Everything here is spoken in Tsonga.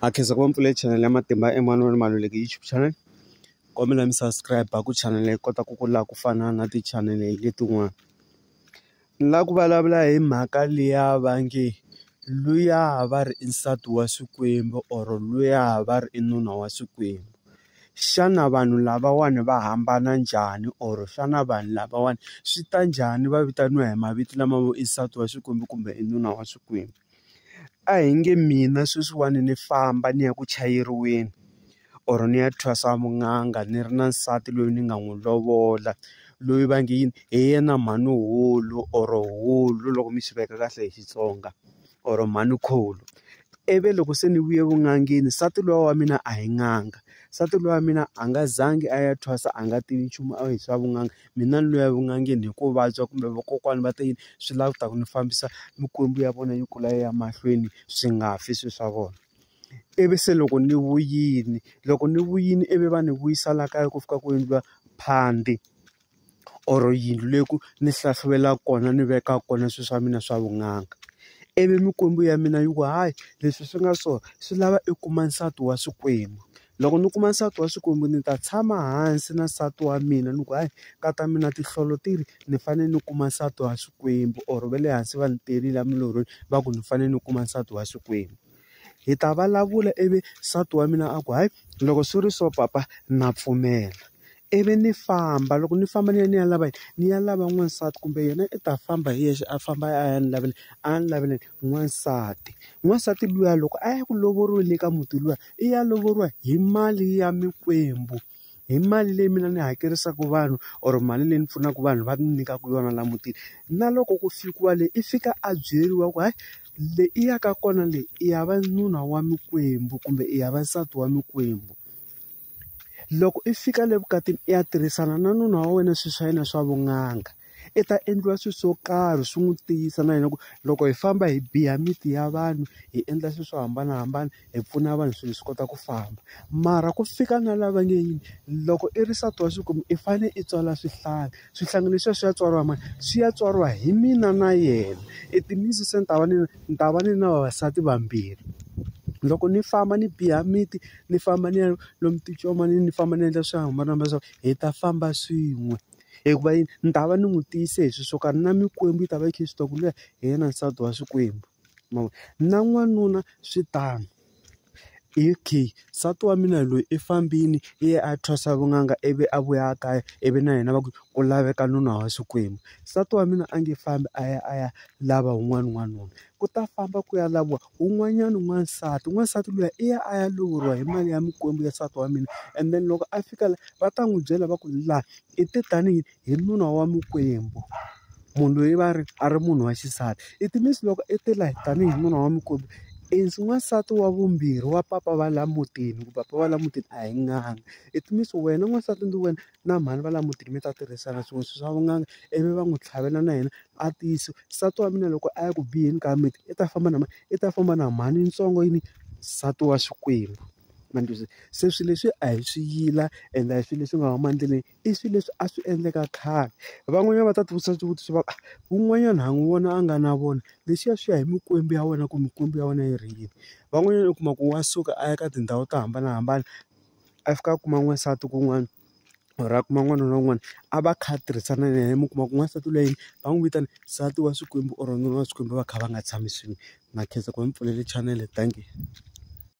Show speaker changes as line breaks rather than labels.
Ha khensa ku va mi pfule chanel ya Matimba Emmanuel Maluleke YouTube channel kombela mi subscribe ku channel yi kota ku kula ku fana na ti-channel letin'wana ni lava ku vulavula hi mhaka liya va nge luya va ri i nsati wa Xikwembu or luya va ri i nuna wa Xikwembu xana vanhu lavawani va hambana njhani or xana vanhu lavawani swi ta njhani va vitaniwa hi mavito lama vo i nsati wa Xikwembu kumbe i nuna wa Xikwembu. A hi nge mina sweswiwani ni famba ni ya ku chayeriweni or ni ya thwasa vun'anga ni ri na nsati loyi ni nga n'wi lovola loyi va nge yini hi yena mhani hulu or hulu loko mi swi veka kahle hi Xitsonga or mhani khulu ivi loko se ni vuye vun'angeni nsati luya wa mina a hi n'anga nsati luya wa mina a nga zangi a ya thwasa a nga tivi nchumu a hi swa vun'anga. Mina ni lo ya vun'angeni hi ku vabya kumbe vakokwana va te yini, swi lava ku ta ku ni fambisa mikwembu ya vona yi kula yi ya mahlweni swi nga fi swilo swa vona. Ivi se loko ni vuyile, loko ni vuyile ivi va ni vuyisa laha kaya ku fika ku endliwa phandi or yindlu leyi ku ni hlahluvelaka kona ni vekaka kona swilo swa mina swa vun'anga. Ivi mikwembu ya mina yi ku hayi leswi swi nga so swi lava i kuma nsati wa xikwembu. loko ni kuma nsati wa Xikwembu ni ta tshama hansi na nsati wa mina ni ku hayi ka ta mina tinhlolo ti ri ni fanele ni kuma nsati wa Xikwembu or va le hansi va ni terile emilorhweni va ku ni fanele ni kuma nsati wa Xikwembu hi ta vulavula ivi nsati wa mina a ku hayi loko swi ri so papa na pfumela Ivi ni famba loko ni famba ni ya ni ya lava yini ni ya lava n'wansati kumbe yena i ta famba hi yexe a famba a ya ni lavela a ya ni lavela n'wansati n'wansati luya loko a ya ku lovoriweni eka muti luya i ya lovoriwa hi mali ya mikwembu hi mali leyi mina ni hakerisaka vanhu or mali leyi ni pfunaka vanhu va ni nyikaka yona laha mutini na loko ku fikiwa le i fika a byeriwa ku hayi le i ya ka kona le i ya va nuna wa mikwembu kumbe i ya va nsati wa mikwembu. loko i fika le vukatini i ya tirhisana na nuna wa wena swilo swa yena swa vun'anga i ta endliwa swilo swo karhi swi n'wi tiyisa na yena ku loko hi famba hi biya miti ya vanhu hi endla swilo swo hambanahambana hi pfuna vanhu swilo swi kota ku famba mara ku fika na lava nge yini loko i ri nsati wa xinuna i fanele i tswala swihlangi swihlangi leswiya swi ya tswariwa mani swi ya tswariwa hi mina na yena i timitsu se ni ta va ni ni ta va ni na vavasati vambirhi loko ni famba ni biya miti. ni famba ni ya lomu ticon'wana ni famba ni endla swo hambanahambana leswaku hi ta famba swin'we. Hikuva yini? Ni ta va ni n'wi tiyise hi swilo swo karhi na mikwembu yi ta va yi kha yi swi tiva ku luya hi yena nsati wa xikwembu. Ma vo? Na n'wanuna swi tano. Okay, nsati wa mina loyi i fambile i ye a ya thwasa vun'anga ivi a vuya a kaya ivi na yena va ku ku laveka nuna wa xikwembu. Nsati wa mina a nge fambi a ya a ya lava un'wana n'wanuna, ku ta famba ku ya laviwa. Un'wanyana n'wansati n'wansati luya i ya a ya lovoriwa hi mali ya mikwembu ya nsati wa mina and then loko a fika la va ta n'wi byela va ku la i te tanihi hi nuna wa mikwembu munhu loyi va ri a ri munhu wa xisati it means loko i te la tanihi nuna wa mikwembu i n'wansati wa vumbirhi wa papa va la mutini ku papa va la mutini a hi ngani it means wena n'wansati ndzi wena. na mhani va la mutini mi ta tirhisana swilo leswi swa vunanga ivi va n'wi tlhavela na yena a tiyisa nsati wa mina loko a ya ku biheni ka miti i ta famba na mani i ta famba na mhani yitsongo yini nsati wa xikwembu ma ni twisisa se swilo leswi a hi swi yila ende a hi swilo leswi nga huma endleleni i swilo leswi a swi endleka khale van'wanyana va ta ti vutisa swivutiso va wun'wanyana ha n'wi vona a nga na vona leswiya swi ya hi mikwembu ya wena ku mikwembu ya wena yi ri yini van'wanyana u kuma ku wa suka a ya ka tindhawu to hambanahambana. a fika a kuma n'wansati kun'wana or a kuma n'wana na un'wana a va kha va tirhisana na yena mi kuma ku n'wansati loyi va n'wi vitana nsati wa Xikwembu or nuna wa Xikwembu va kha va nga tshami swin'we na khensa ku va ni pfulele chanele thank you.